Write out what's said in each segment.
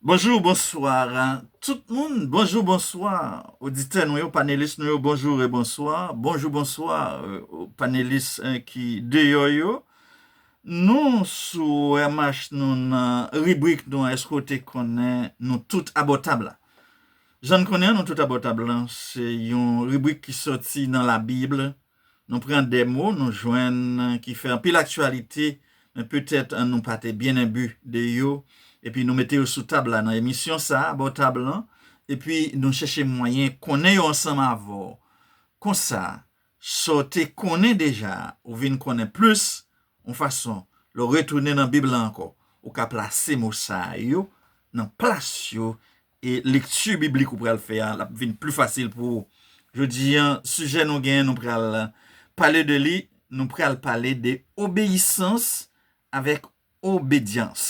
Bonjour bonsoir tout moun bonjour bonsoir oditè nou yo panelis nou yo bonjour et bonsoir bonjour bonsoir panelis ki deyò yo nou sou MH nou nan ribrik nou an èske ou te konnen nou tout abò tab la jan n konnen an nou tout abò tab la se yon ribrik ki sòti nan la bible Nou pran 2 mo nou jwenn ki fè anpil aktyalite, men petèt nou pa te byen enbi de yo, epi nou mete yo sou tab la nan emisyon sa a, bò tab lan, epi nou chèche mwayen konnen yo ansanm avè w. Konsa, sa w te konnen deja a, ou vin konnen plis, yon fason, lè w retounen nan Bib la ankò, ou ka plase mo sa yo nan plas yo E lekti biblik ou pral fè a, l ap vin pli fasil pou ou. Jodi a, sijè nou gen, nou pral pale de li, nou pral pale de obeyisans avèk obedyans.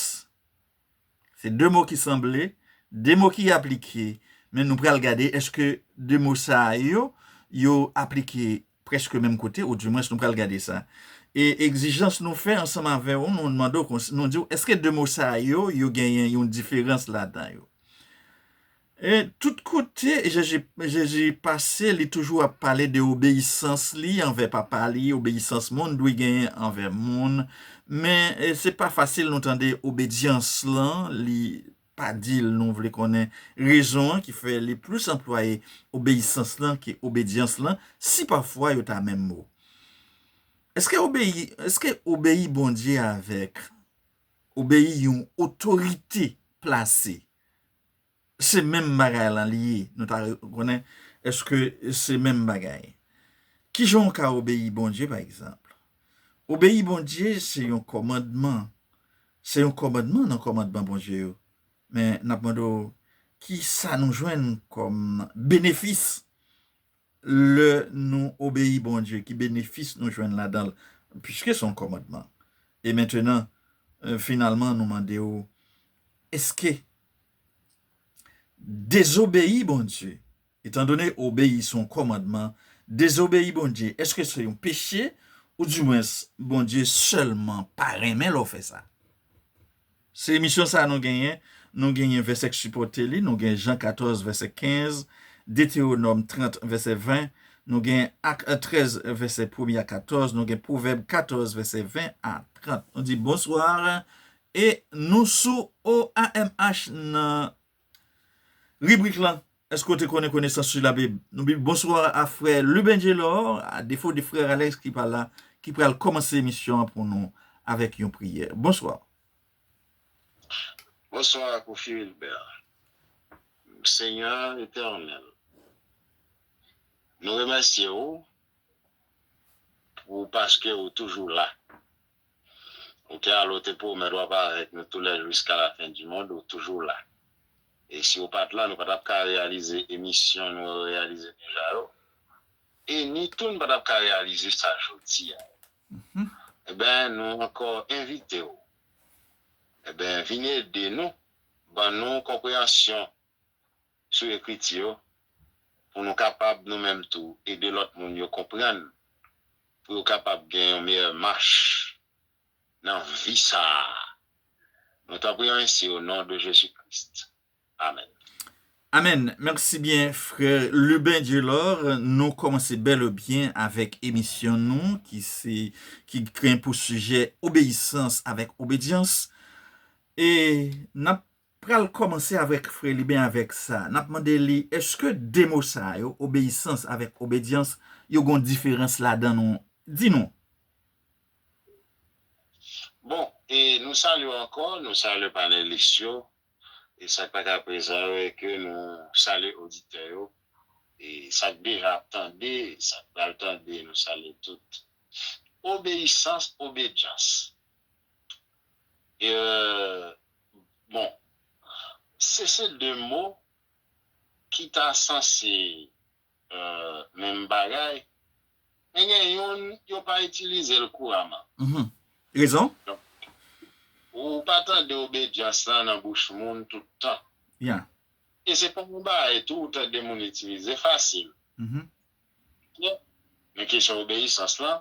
Se de mo ki sanble, de mo ki aplike, men nou pral gade èske de mo sa yo, yo aplike Prèske menm kote, ou di mwens nou pral gade sa. E egzijans nou fè ansanm avè ou, nou mande ou konsi, nou di ou, èske de mo sa yo, yo genyen yon diferans ladan yo? E tout kote Jezi, Jezi pase, li toujou ap pale de obeyisans li anvè Papa li, obeyisans moun dwe genyen anvè moun. Men, se pa fasil nou tande obedyans lan, li. pa di l nou vle konnen rezon an ki fè li plis anplwaye obeyisans lan ke obedyans lan, si pafwa yo ta menm mo. Èske obeyi, èske obeyi Bondye avèk obeyi yon otorite plase se menm bagay lan li ye? Nou ta konnen èske se menm bagay. Kijan w ka obeyi Bondye pa egzanp? Obeyi Bondye se yon kòmandman, Se yon kòmandman nan kòmandman Bondye yo. Men, n ap mande w, ki sa nou jwenn kòm benefis lè nou obeyi Bondye? Ki benefis nou jwenn ladan l, piske se yon kòmandman? E mentenan, finalman, nou mande w, èske dezobeyi Bondye Etandone obeyi se yon kòmandman, dezobeyi Bondye èske se yon peche? Oudimwens, Bondye sèlman pa renmen lè w fè sa. Se emisyon sa nou genyen, nou genyen vèsè k sipòte li, nou gen Jan 14 vèsè 15, Detewonòm 30 vèsè 20, nou gen Ak 13 vèsè premye a 14, nou gen Pwovèb 14 vèsè 20 a 30. Nou di bonsoir e nou sou OAMH nan Ribrik lan Èske w te konnen konesans sou Labib nou bib? Bonswa a frè Luben Gelor, a defo de frè Alex ki pa la, ki pral kòmanse emisyon an pou nou avèk yon priyè. Bonswa. Bonswa Kofi Wilbert. Senyè Etènèl, nou remèsye ou pou paske ou toujou la. Ou te ale ou te pwomèt wap avèk nou tou lè jiska la fen di mond ou toujou la e si ou pat la nou pa tap ka reyalize emisyon nou reyalize deja yo e ni tou nou pa tap ka reyalize sa jodi a yo enben nou ankò envite ou enben vin ede nou ban nou konpreyansyon sou ekriti yo pou nou kapab nou menm tou ede lòt moun yo konprann pou yo kapab gen yon meyè mach nan vi sa a nou ta priye ainsi au nom de Jésus Christ amen. Amen merci bien frère Lubin Djelor nou komanse bel e bien avek emisyon nou ki se ki gen pou sujet obeissance avek obedience e nap Pral kòmanse avèk frè li ben avèk sa nap mande li eske 2 mo sa yo obeyisans avèk obedyans yo gon diferans ladan nou di nou. Bon e nou salye w ankò nou salye panelis yo e sak pa ka prezan yo e ke nou salye oditè yo e sak deja ap tande sak pral tande nou salye tout obeyisans obedyans e. Bon, se se de mo ki ta sanse menm bagay, men gen youn yo pa itilize l kouraman. Rezon? Ou pa tande obedyans lan nan bouch moun tout tan. E se pa yon bagay tou ou tande moun itilize fasil. Men kesyon obeyisans lan,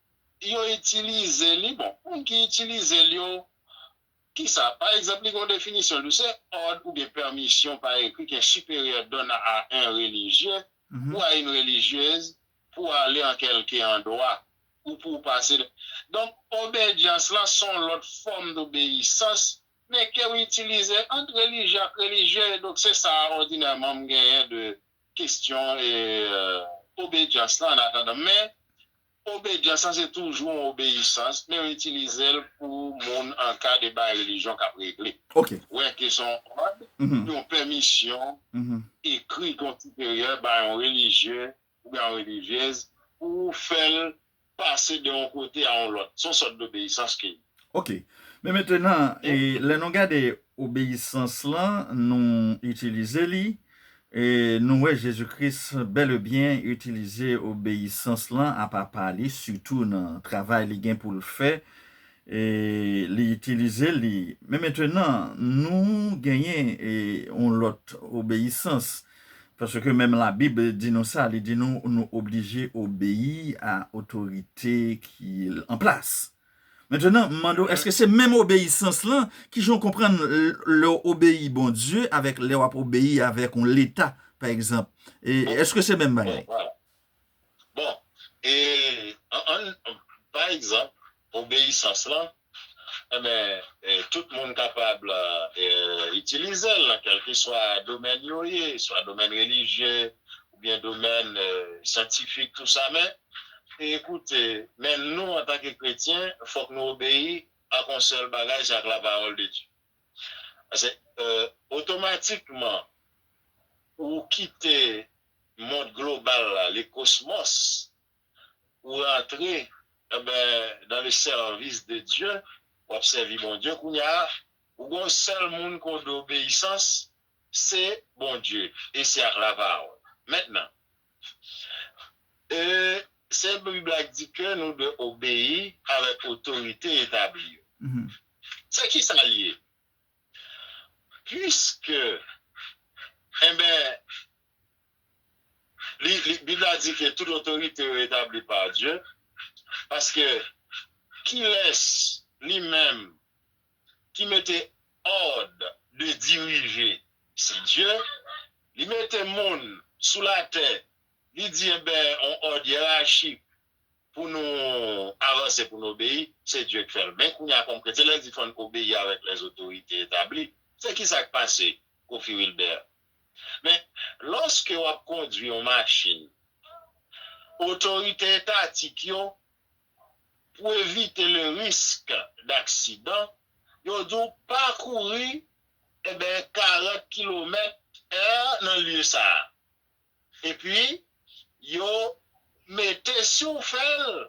Yo itilize li, bon, moun ki itilize l yo, ki sa? Pa egzanp, li gen yon definisyon, l di, se òd oubyen pèmisyon pa ekri k'un siperyè donn a un religieux ou a une religieuse pou ale an kèlke andwa ou pou w pase de. Donk, obejans la s'on lòt fòm d'obeyisans, men ke w itilize ant relijye ak relijye, e donk se sa òdinèman m genyen de kestyon obejans lan an atandan. Men, Obedyans lan se toujou yon obeyisans, men yo itilize l pou moun an ka de bagay relijyon k ap regle. Wè ke se yon òd, yon pèmisyon ekri ke yon siperyè bay yon relijye oubyen yon relijyez pou fè l pase de yon kote a yon lòt. Se yon sòt dobeyisans ke li. Ok. Men mentenan, lè nou gade obeyisans lan, nou itilize li, e nou wè Jezi Kris bèlebyen itilize obeyisans lan a Papa li, sitou nan travay li gen pou l fè, e li itilize li. Men mentenan, nou genyen yon lòt obeyisans, paske menm Labib di nou sa, li di nou nou oblije obeyi a otorite ki an plas. Mentnan, m mande w, èske se menm obeyisans lan? Ki jan w konprann lè w obeyi Bondye avèk lè w ap obeyi avèk yon leta, pa egzanp? E, èske se menm bagay? Bon, e, ann, pa egzanp, obeyisans lan, enben, tout moun kapab itilize l nan kèlkeswa domèn yo ye, swa domèn relijye, oubyen domèn syantifik tou sa men ekoute men nou antanke kretyen fòk nou obeyi ak yon sèl bagay se ak la pawòl de Dye pase otomatikman ou kite mond global la le kosmòs ou rantre enben dan le sèvis de Dye wap sèvi Bondye kounya ou gen yon sèl moun ke w dwe obeyisans Se Bondye e se ak lavawon. Mentnan, ee, se Bib la k di ke nou dwe obeyi avèk otorite etabli yo. Se kisa l ye? Piske, enben, li, li, Bib la di ke tout otorite yo etabli pa Dye, paske kilès, Li menm, ki mete òd de dirije se Dye li mete moun sou latè li di enben yon òd yerachik pou nou avanse pou nou obeyi se Dye k fèl men kounya kòm kretyen lèl di fòn obeyi avèk lè zotorite etabli se kisa k pase Kofi Wilbert men lòske wap kondwi yon machin otorite etatik yo pou evite le risque d'accident, yo di w pa kouri eben 40 kilomèt è nan lye sa a. Epi yo mete si w fè l,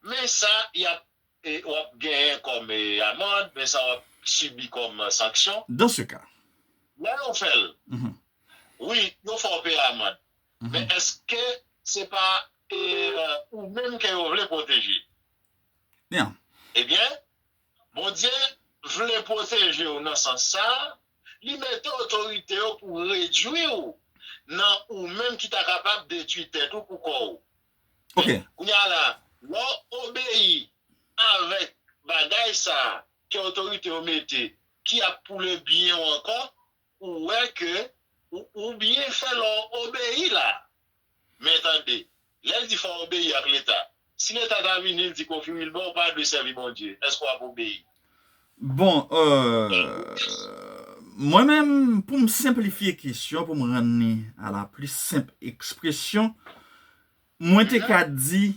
men sa y ap w ap genyen kòm amande, men sa w ap sibi kòm sanksyon. Dans ce cas. Lè yo fè l, wi, yo fè w peye amande. Men eske se pa ou menm ke yo vle pwoteje? Ebyen, Bondye vle pwoteje w nan sans sa a, li mete otorite yo pou redui w nan ou menm ki ta kapab detui tèt ou pou kò w. Men, kounye a la, lè w obeyi avèk bagay sa a ke otorite yo mete ki ap pou lebyen w ankò, Ou wè ke ou byen fè lè w obeyi la. Men tande, lè l di fò w obeyi ak Leta, si Leta ta vini l di Kofi Wilbè ou pa dwe sèvi Bondye, èske w ap obeyi? Bon, mwen menm, pou m senplifye kesyon, pou m rann li a la plis senp ekspresyon, mwen te ka di,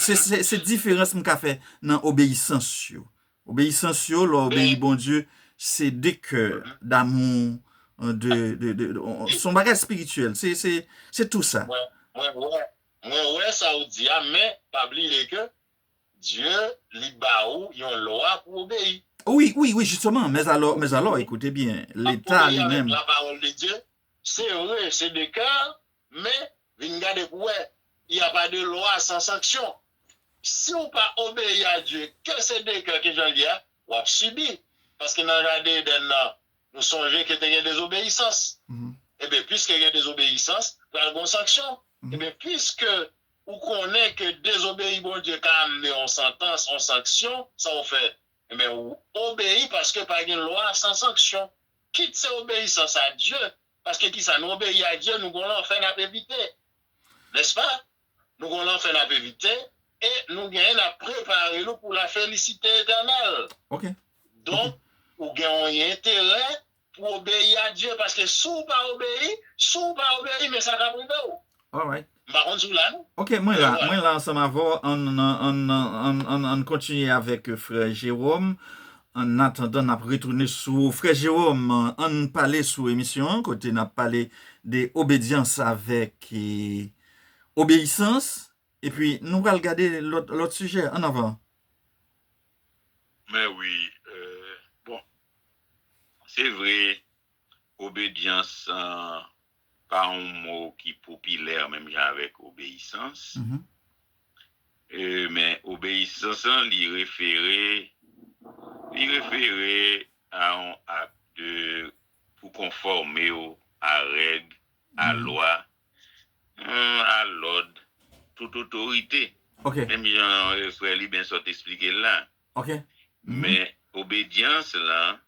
Se diferans m ka fè nan obeyisans yo. Obeyisans yo, lè w obeyi Bondye, se de kè, damou, son bagay espirityèl. Se tou sa. Mwen wè sa ou di a, men pa bliye ke Dye li ba ou yon lwa pou w obeyi. Wi, wi, wi, jisteman. Mè zalò, mè zalò, ekoute byen, leta li menm. Obeyi avèk la pawòl de Dye, se vre, se de kè, men Vin gade pou wè, il ya pa de lwa san sanksyon. Siw pa obeyi a Dye, ke se dekrè ke janl ye a, wap sibi. Paske nan jaden Eden nan, nou sonje ke te gen dezobeyisans. Enben, piske gen dezobeyisans, pral gon sanksyon. Enben, piske ou konnen ke dezobeyi Bondye ka amne yon santans, yon sanksyon, sa ou fè? Enben, ou obeyi paske pa gen lwa san sanksyon. Kit se obeyisans a Dye, Paske kisa? Nou obeyi a Dye, nou gon lanfè nap evite. Nèspa? Nou gon lanfè nap evite, e nou genyen nap prepare nou pou la felisite etènèl. Ok. Donk, ou gen yon enterè pou obeyi a Dye, paske si w pa obeyi, si w pa obeyi men sa kap rive w. Alright. M pa konn si w la non. Ok mwen la mwen la ansanm avè w an an an kontinye avèk frè Jérôme an atandan n ap retounen sou ou frè Jérôme an n pale sou emisyon an kote n ap pale de obedyans avèk obeyisans epi nou pral gade lòt sijè an avan. Mè wi bon se vre obedyans an. pa yon mo ki popilè menm jan avèk obeyisans. Men obeyisans lan li refere li refere a yon ak de pou konfòme w a règ, a lwa, a lòd tout otorite. Menm jan frè Liben sot esplike l la. Men obedyans lan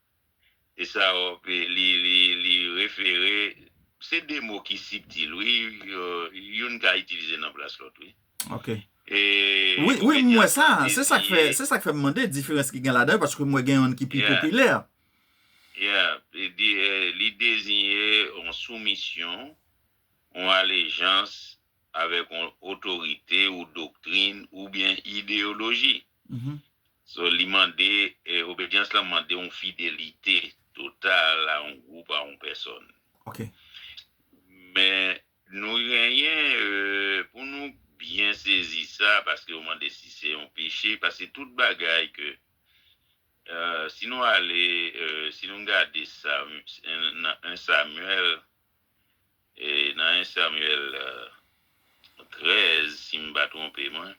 E sa ok li refere. Se 2 mo ki sibtil wi youn ka itilize nan plas lòt wi. Ok. Wi m wè sa, se sa k fè, se sa k fè m mande diferans ki gen ladan yo paske m wè gen youn ki pi popilè. Yeah, li deziyen yon soumisyon, yon alejans avèk yon otorite ou doktrin oubyen ideyoloji. So li mande, obedyans lan mande yon fidelite total a yon gwoup, a yon pèsòn. Men nou genyen pou nou byen sezi sa paske yo mande si se yon peche, paske tout bagay ke si nou ale, si nou gade sa nan 1 Samuel, E nan 1 Samuel 13 si m pa twonpe mwen.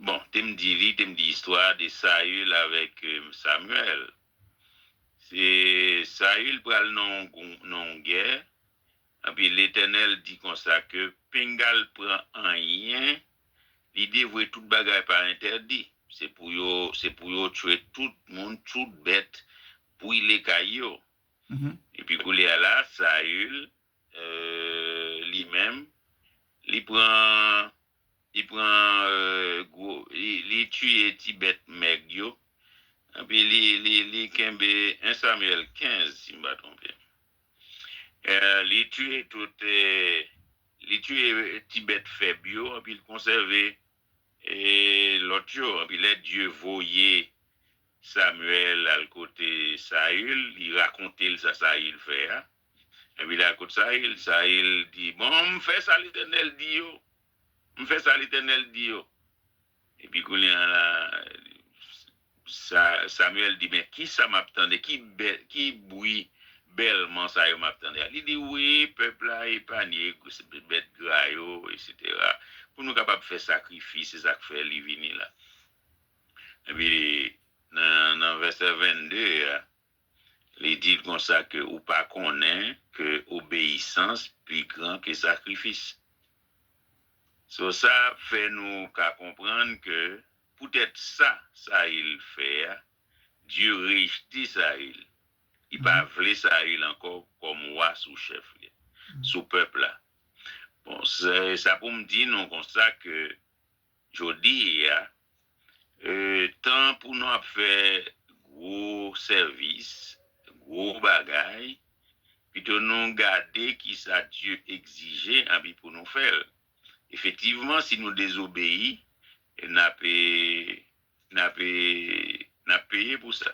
Bon, te m di li, te m di istwa de Saül avèk Samuel. Se Saül pral nan yon gè, enpi Letènèl di konsa ke pinga l pran anyen, li devwe tout bagay pa entèdi. Se pou yo, se pou yo tchwe tout moun, tout bèt, bwile kay yo. Epi koulye a la, Saül, li menm, li pran, li pran gwo, li tiye ti bèt mèg yo, epi li, li, li kenbe, 1 Samuel 15, si m pa twonpe m, li tiye tout, li tiye ti bèt fèb yo, epi l konsève. E lòt yo? Epi lè Dye voye Samuèl al kote Saül, li rakonte l' sa Saül fè a. Epi l'al kot Saül, Saül di, Bon, m' fè sa Letènèl di yo, m' fè sa Letènèl di yo. Epi kounye a la. Samuel di, Men, ki sa m ap tande? Ki bwi bèlman sa yo m ap tande a? Li di, Wi, pèp la epanye, bèt gra yo, eseytera, pou nou kapab fè sakrifis, se sa k fè li vini la. Epi, nan vèsè 22 a, li di l konsa ke, Ou pa konnen ke obeyisans pi gran ke sakrifis? So, sa fè nou ka konprann ke Poutèt sa Sayil fè a, Dye rejte Sayil, li pa vle Sayil ankò kòm wa sou chèf li, sou pèp la. Bon, se sa pou m di nou konsa ke jodi a, tan pou nou ap fè gwo sèvis, gwo bagay, pito nou gade kisa Dye egzije anpi pou nou fè l. Efetivman si nou dezobeyi nap nap nap peye pou sa.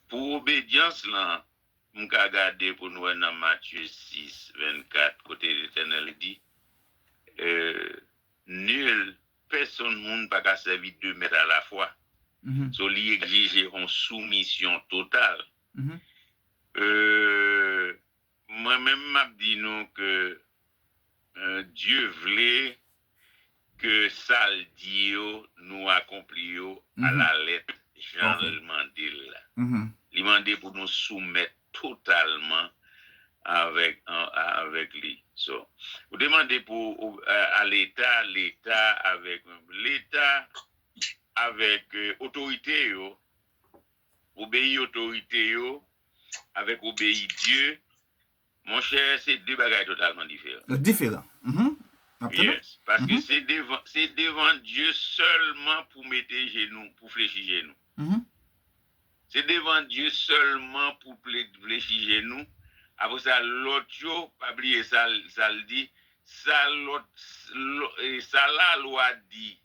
Pou obedyans lan m ka gade pou n wè nan Matye 6, 24 kote Letènèl di nul pèsonn moun pa ka sèvi 2 mèt a la fwa so li egzije on soumisyon total. Mwen menm map di nou ke Dye vle ke sal di yo nou akonpli yo a la lèt janl mande l la. Li mande pou nou soumèt totalman avèk li. So, ou te mande pou a leta, leta avèk leta avèk otorite yo. Obeyi otorite yo avèk obeyi Dye, monchè, se de bagay totalman diferan. Diferan. Map tande. Yes. Paske se devan, se devan Dye sèlman pou mete jenou, pou flechi jenou. Se devan Dye sèlman pou flechi jenou. Apre sa, lòt yo, pa bliye sa l di, sa lòt, sa lalwa di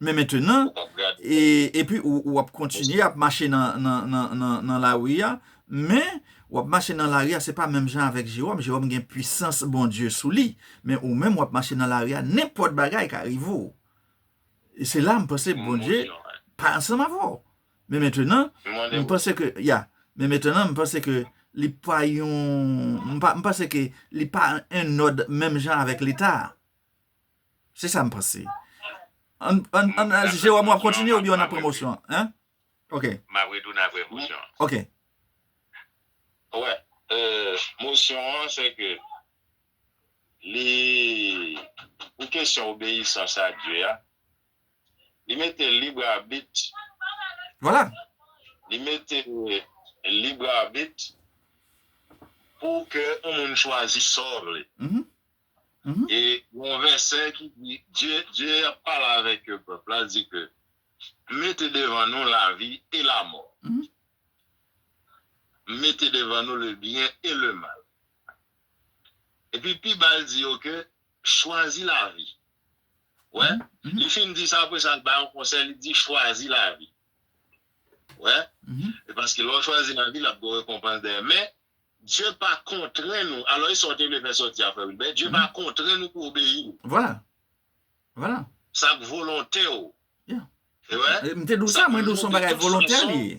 Men mentenan, epi ou ap kontinye ap mache nan lari a, men ou ap mache nan lari a se pa menm jan avèk Jewòm, Jewòm gen pwisans Bondye sou li, men ou menm ou ap mache nan lari a, nenpòt bagay ka rive ou. E se la m panse Bondye pa ansanm avè w. Men mentenan, m panse ke, ya, men mentenan m panse ke li pa yon, m panse ke li pa en òd menm jan avèk Leta a. Se sa m panse. Jewòm wap kontinye oubyen w ap pran mosyon an? Ok. M ap retounen apre mosyon an. Ok. Wè, mosyon an se ke li, pou kesyon obeyisans a Dye a, li mete lib abit. Vwala. Li mete lib abit pou ke yon moun chwazi sò vle. E gen yon vèsè ki di, Dye, Dye ap pale avèk yo, pèp la, di ke, M mete devan nou lavi e lamò. M mete devan nou lebyen e lemal. Epi pi ba l di yo ke, Chwazi lavi. Ou wè? Li fin di sa, apre sa l bay yon konsèy, li di, Chwazi lavi. Ou wè? Paske lè w chwazi lavi, l ap gen yon rekonpans dèyè. Men, Dye pa kontrenn ou. Alò e sa w te vle fè sòti a, Frè Wilbè? Dye pa kontrenn ou pou w obeyi l. Vwala. Vwala. Sa k volonte w. Ya. Ou wè? M te di w sa, mwen di w se yon bagay volontè li ye.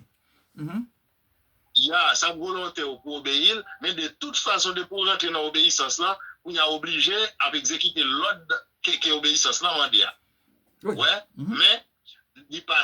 Ya, sa k volonte w pou w obeyi l, men de tout fason depi w rantre nan obeyisans lan, kounye a w oblije ap egzekite lòd ke obeyisans lan mande a. Ou wè? Men, li pa,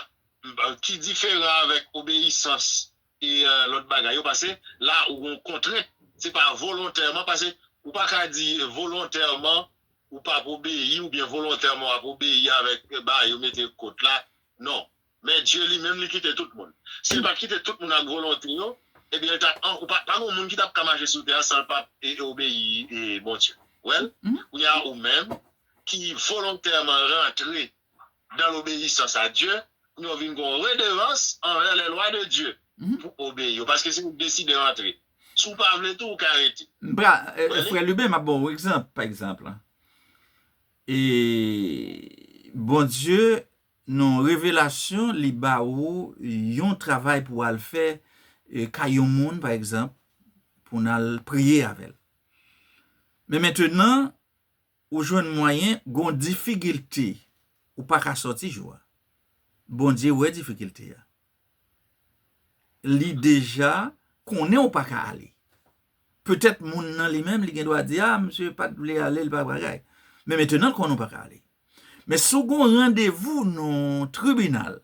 ki diferan avèk obeyisans e lòt bagay yo pase la ou gon kontrent se pa volontèman pase ou pa ka di volontèman ou pap obeyi oubyen volontèman wap obeyi avèk ba yo mete kot la non men Dye li menm li kite tout moun si li pat kite tout moun ak volonte yo ebyen li tap an ou pa gon moun ki tap ka mache sou tè a sanl pap obeyi Bondye wèl kounya ou menm ki volontèman rantre dan lobeyisans a Dye, pou yo vin gen yon redelans anvè lè lwa de Dye, pou obeyi yo, paske se ou k deside antre. Si w pa vle tou, ou ka rete. M pra, Frè Lubin, m ap ba w yon egzanp, pa egzanp, e, Bondye, nan yon revelasyon, li ba ou yon travay pou w al fè kay yon moun, pa egzanp, pou w nan al priye avè l. Men mentenan, Ou jwenn mwayen gon difikilte ou paka sòti jou a. Bondye wè difikilte a. Li deja konnen ou paka ale. Petèt moun nan li menm li gen dwa di a misye pat vle ale li pa bagay. Men metenan l konnen ou paka ale. Men si w gon randevou nan tribinal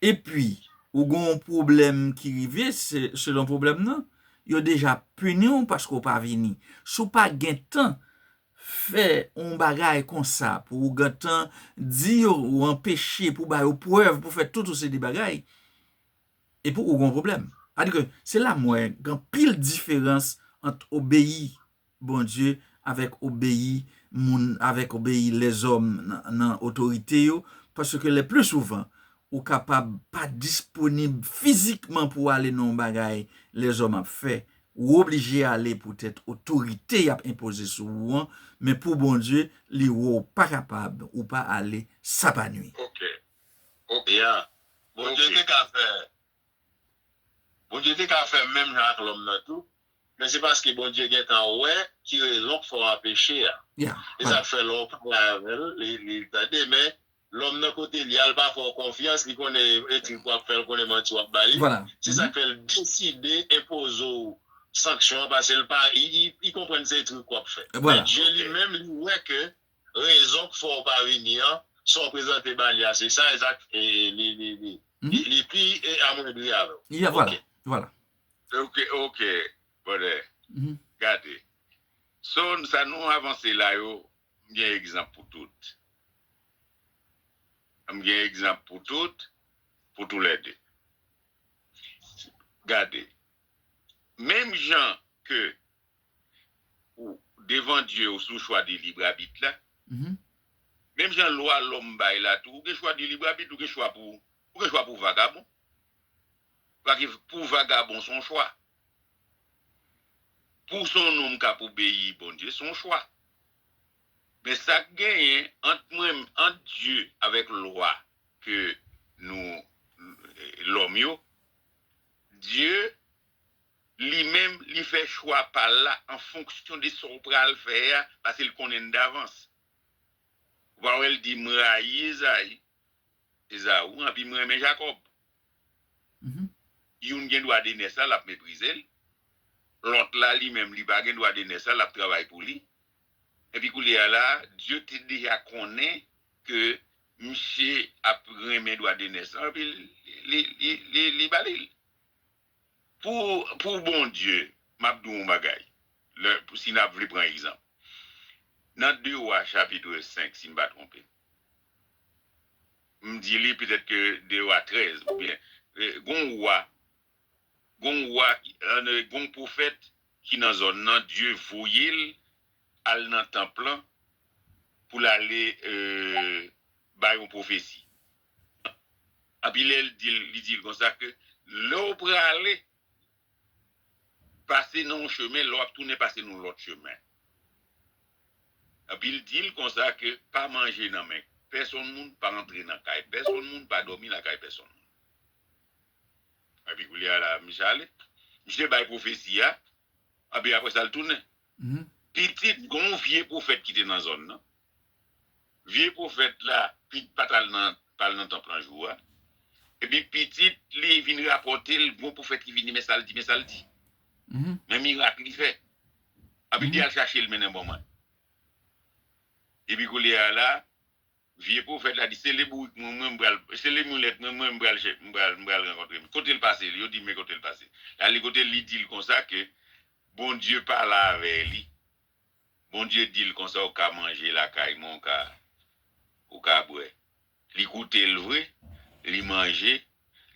Epi ou gen yon pwoblèm ki rive, selon pwoblèm nan, yo deja pini w paske ou pa vini. Si w pa gen tan fè yon bagay konsa pou ou gen tan di yo ou anpeche pou ba yo prèv pou fè tout yon seri de bagay, epi ou gen yon pwoblèm. Sa vle di ke se la m wè gen anpil diferans ant obeyi Bondye, avèk obeyi moun, avèk obeyi lèzòm nan otorite yo, paske le pli souvan ou kapab pa disponib fizikman pou w ale nan yon bagay lèzòm ap fè, ou oblije ale poutèt otorite y ap enpoze sou ou an, men pou Bondye, li wè w pa kapab, ou pa ale, sa pa nui. Ok. Ok. Bondye te ka fè Bondye te ka fè menm jan ak lòm nan tou, men se paske Bondye gentan wè ki rezon k fè w an peche a. Se sa k fè lè w pale avè l, li tande, men lòm nan kote l ye a, l pa fè w konfyans, li konnen etrik w ap fè, l konnen manti w ap ba li, se sa k fè l deside enpoze w sanksyon an, paske l pa, li konprann se etrik w ap fè. Men Dye li menm, li wè ke rezon k fè w pa vini an, sa w prezante ba li a se sa ezak e li pi amwendri avè w. Ya vwala, vwala. Ok, ok, brother, gade, so sa nou avanse la yo, m gen egzanp pou tout. M gen egzanp pou tout, pou tou lè de. Gade, menm jan ke Ou devan Dye ou sou chwa de lib abit la. Menm jan lwa lòm bay la tou, ou gen chwa de lib abit, ou gen chwa pou ou gen chwa pou vagabon. Pake pou vagabon son chwa. Pou son nonm k'ap obeyi Bondye son chwa. Men sa k' genyen ant mwen ant Dye avèk lwa ke nou lòm yo, Dye Li menm, li fè chwa pa l la an fonksyon de sa w pral fè a paske l konnen l davans. Ou pa wè l di, M rayi Ezayi, Ezaou, anpi m renmen Jakòb. Youn gen dwa de nès la, l ap meprize l. Lòt la, li menm, li pa gen dwa de nès la, l ap travay pou li. Enpi koulye a la a, Dye te deja konnen ke misye ap renmen dwa de nès la, anpi li ba li l. Pou pou Bondye, m ap di w yon bagay, lè si n ap vle pran egzanp, nan 2 Wa chapitre 5 si m pa twonpe m, m di li petèt ke 2 Wa 13 oubyen gon yon Wa, gon yon Wa, gon yon pwofèt ki nan zòn nan Dye voye l al nan tanp lan pou l ale bay yon pwofesi. Api lè l di l, li di l konsa ke lè w prale, pase nan yon chemen, lè w ap tounen pase nan yon lòt chemen. Api l di l konsa ke pa manje nan men pèsonn moun, pa antre nan kay pèsonn moun, pa dòmi lakay pèsonn moun. Epi koulye a la misye ale. Misye bay pwofesi a, epi apre sa l tounen. Pitit gon vye pwofèt ki te nan zòn nan. Vye pwofèt la pi pa t al nan tanp lan jou a. Epi pitit li vin rapòte l gon pwofèt ki vini men sa l di, men sa l di, men mirak li fè. Anpi l di al chache l mennen ban mwen. Epi koulye a la, vye pwofèt la di se le bourik mwen mwen m pral, se le milèt mwen mwen m pral chè, m pral, m pral rankontre men kote l pase l, yo di men kote l pase l. L ale kote l, li di l konsa ke Bondye pale avè li. Bondye dil konsa ou ka manje lakay mwen ou ka ou ka bwè li koutel vre li manje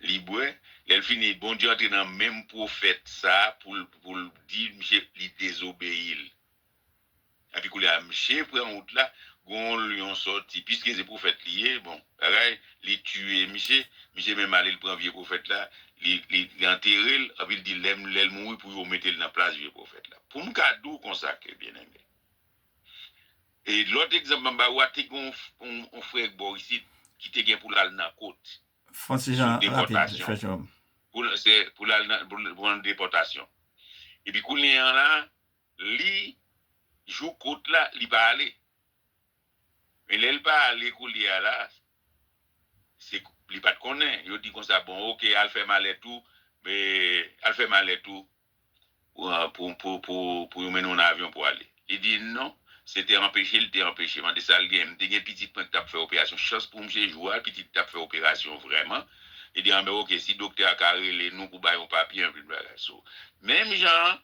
li bwè lèl fini Bondye antre nan menm pwofèt sa poul poul di misye li dezobeyil epi koulye a misye pran wout la gon lyon sòti piske se pwofèt liye bon. Bagay li tuye misye. Misye menm ale li pran vye profèt la li anterel epi li di lèl mouri pou yo metel nan plas vye profèt la. Poum ka di w konsa ke byen eme. E lòt egzanp map ba ou a te gen yon frè bò isit ki te gen pou lal nan kot. Francis Jean rapid frè Jerome. Pou lal nan depòtasyon. Epi kounye an la li jou kot la li pa ale. Men lèl pa ale koulye a la se li pat konnen yo di konsa bon ok al fè malèt ou al fè malèt ou pou yo mennen w nan avyon pou ale li di non se te anpeche li te anpeche mande sal gen m te gen pitit mwen ki tap fè operasyon chans pou m se jou a pitit tap fè operasyon vrèman li di anben ok si doktè a ka rele nou pou bay yon papye anpil bagay so menm jan an.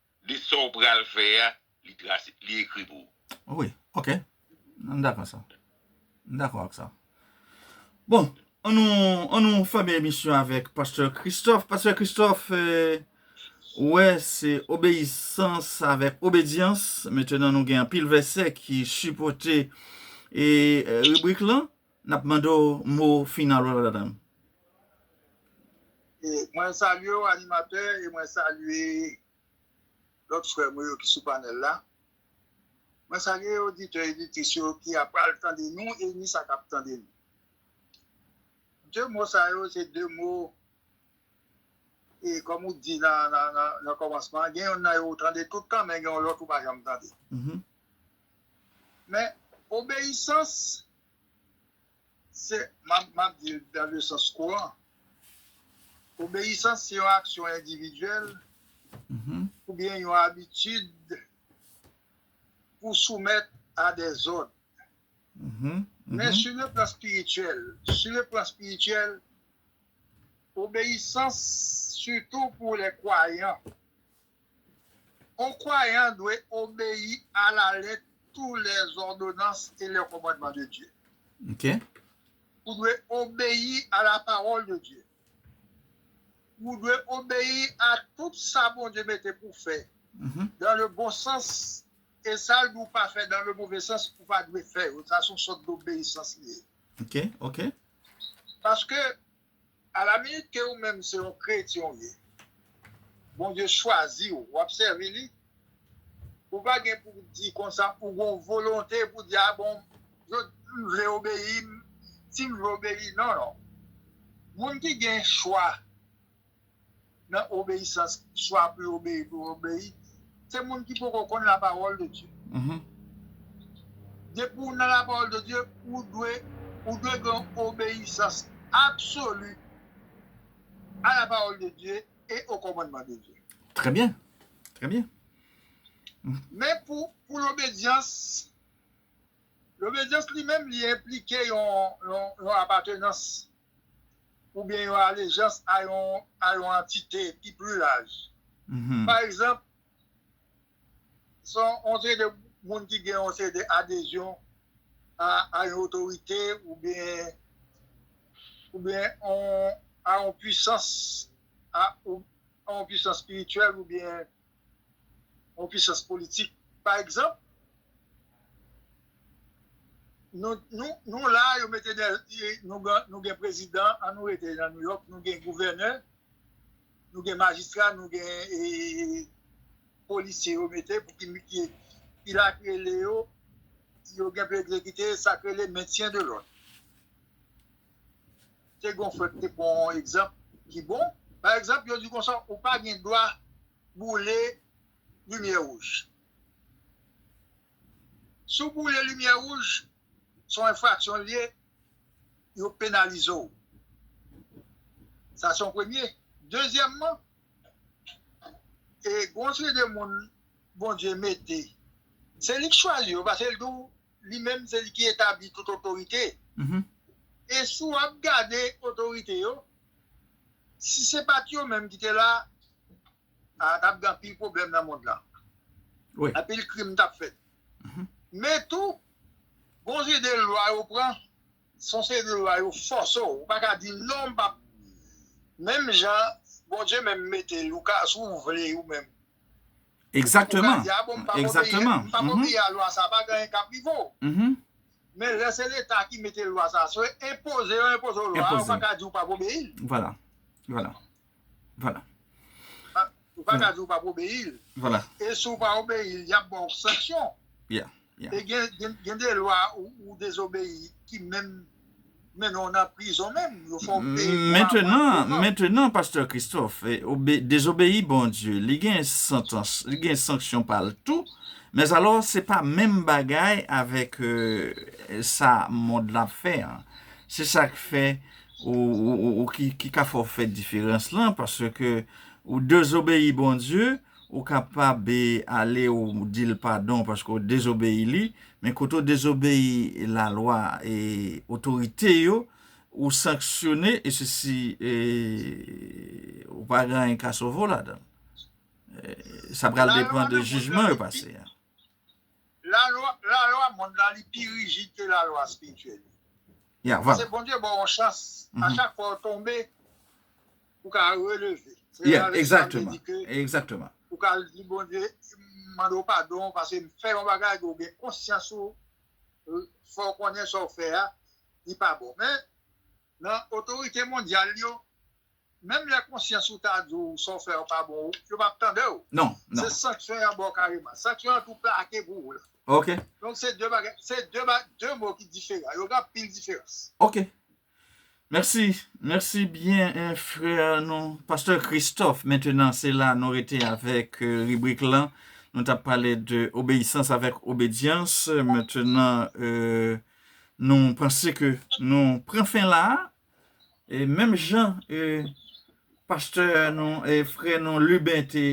Li sa w pral fè a, li trase, li ekri pou ou. Wi, ok. M dakò sa. M dakò ak sa. Bon, an nou, an nou fèmen emisyon avèk Pastè Christophe. Pastè Christophe, ou wè se obeyisans avèk obedyans. Metenan nou gen anpil vèsè ki sipòte e ribrik lan. Nap mande w mo final ou ladann. Mwen salye w animatè e mwen salye lòt frè mwen yo ki sou panèl la. Mwen salye oditè oditris yo ki ap pral tande nou e ni sa k ap tande nou. De mo sa yo se de mo e kòm ou di nan kòmansman gen yonn nan yo ou tande tout tan men gen yon lòt ou pa janm tande. Men, obeyisans, se, m ap di l dan le sans kouran, obeyisans se yon aksyon endividyèl oubyen yon abitid pou soumèt a dè zòd. Men sou le plan espirityèl, sou le plan espirityèl, obeyisans sitou pou lè kwayan, On kwayan dwe obeyi a la lèt tou lè zòdonans e lè kòmandman de Dye. Ou dwe obeyi a la pawòl de Dye. Ou dwe obeyi a tout sa Bondye mete pou fè dan le bon sans e sa l di w pa fè dan le move sans ou pa dwe fè yo. Sa son sòt dobeyisans li ye. Paske. A la minit ke ou menm se yon kretyen ou ye, Bondye chwazi ou, w'ap sèvi li, ou pa gen pou w' di konsa ou gon volonte pou w' di a bon m' vle obeyi m', si m' vle obeyi non non. Moun ki gen chwa. Nan obeyisans, chwa pou yo obeyi, pou yo obeyi, se moun ki poko konn la pawòl de Dye. Depi ou nan la pawòl de Dye, ou dwe ou dwe gen yon obeyisans absoli a la pawòl de Dye e o kòmandman de Dye. Trè byen, trè byen. Men pou pou lobedyans, lobedyans li menm li enplike yon yon yon apatenans. oubyen yon alejans a yon a yon antite ki pli laj. Pa egzanp, son yon seri de moun ki gen yon seri de adezyon a a yon otorite oubyen oubyen yon a yon pwisans a yon pwisans espirityèl oubyen yon pisans politik pa egzanp nou la yo mete nou gen prezidan an nou rete nan nouyòk nou gen gouvènè nou gen majistra nou gen polisye yo mete pou ki la ki rele yo yo gen pou ekzekite sa ki rele mentyen de lòd Te gen yon frè ki te pran yon egzanp ki bon. Pa egzanp, yo di konsa, ou pa gen dwa boule limyè wouj. Si w boule limyè wouj, se yon enfraksyon l ye, yo penalize w. Sa se yon premye. Dezyèmman, gen yon seri de moun Bondye mete, se li ki chwazi yo, paske l di w Li menm se li ki etabli tout otorite. E si w ap gade otorite yo, si se pa t yo menm ki te la, a t ap gen anpil pwoblèm nan mond lan. Anpil krim t ap fèt. Men tou, gon seri de lwa yo pran. Son seri lwa yo fòse w, ou pa ka di non m pap menm jan Bondye menm mete Louka si w vle ou menm Exactement, ou ka di a bon m pap obeyi m pap obeyi a lwa sa pa gen anyen k ap rive w men lè se leta ki mete lwa sa si yo enpoze yo enpoze w lwa a ou pa ka di ou pap obeyi l. Vwala. Ou pa ka di ou pa pou obeyi l. Vwala. E si ou pa obeyi l, y ap ba ou sanksyon. Yeah, yeah. E gen de lwa ou dezobeyi ki menm mennen ou nan prizon menm. Yo fè ou peye pou aprann. Mentenan, mentenan, pastè Christophe, dezobeyi Bondye, li gen santans, li gen sanksyon pa l tou. Mèzalò, se pa menm bagay avèk sa mond lan ap fè an. Se sa k fè. ou ki ka fè w fè diferans lan, paske ou dezobeyi Bondye, ou kapab ale ou di l padon paske ou dezobeyi li, men kote ou dezobeyi lalwa e otorite yo, ou sanksyone e se si ou pa gen anyen ka sove w ladan l. Sa pral depan de jijman yo pase a. Lalwa, lalwa mond la li pi rijid ke lalwa spirityèl yo. Ya, vwala. Se Bondye baw yon chans, a chak fwa ou tonbe, ou ka releve. Se la vèsyon an te di ke. Ya, egzakteman. Ou ka al di Bondye, m mande w padon paske m fè yon bagay ke w gen konsyans ou fè w konnen sa w fè a li pa bon. Men, nan otorite mondyal yo. Menm lè konsyans ou ta di w sa w fè an pa bon yo pap tande w. Non, non. Se sanksyon y ap ba w kareman. Sanksyon an tou plake pou ou la. Ok. Donk se 2 bagay, se 2 ba, 2 mo ki diferan. Yo gen anpil diferans. Ok. Mèsi, mèsi byen frè nou Pastè Christophe. Mentenan se la nou rete avèk ribrik lan. Nou t ap pale de obeyisans avèk obedyans. Mentenan nou panse ke nou pran fen la a. E menm jan e pastè nou e frè nou Lubin te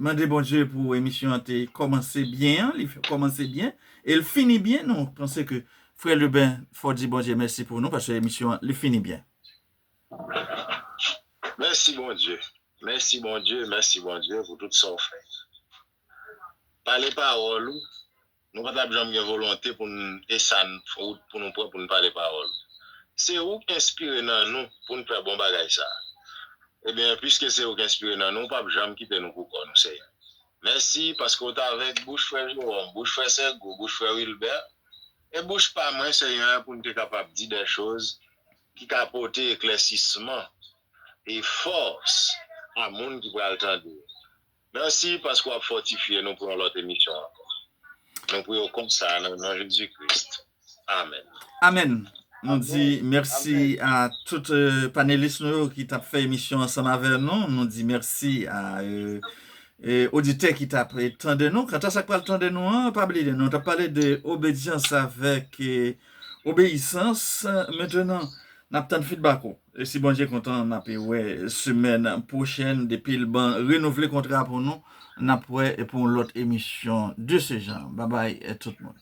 mande Bondye pou emisyon an te kòmanse byen an, li kòmanse byen e l fini byen, nou panse ke frè Lubin fò di Bondye mèsi pou nou paske emisyon an li fini byen. Mèsi Bondye, mèsi Bondye, mèsi Bondye pou tout sa w fè. Pale pawòl ou, nou pa tap janm gen volonte pou n e sa n wout pou nou pran pou n pale pawòl ou. Se ou k enspire nan nou pou n fè bon bagay sa a. Ebyen, piske se ou k enspire nan nou, ou pap janm kite nou pou kò nou, Senyè. Mèsi, paske ou t avèk bouch frè Jewòm, bouch frè Sègo, bouch frè Wilbè, e bouch pa mwen, Senyè, pou n te kapab di dè choz ki ka pote eklèsisman e fòs a moun ki pral tande yo. Merci paske wap fòtifye nou pou yon lòt emisyon ankò. Nou pou yo konsa nan non Jezi Kris. Amen. Amen. Nou di merci a tout panelis nou yo ki tap fè emisyon ansanm avè nou. Nou di merci a oditè ki tap tande nou. Kanta sak pral tande nou an, pa bliye nou tap pale de obedyans avèk obeyisans. Mentenan nap tann feedback ou. Si Bondye kontan nap wè semèn pwochèn depil ban renouvle kontra pou nou nap wè pou yon lòt emisyon de se jan babay tout moun.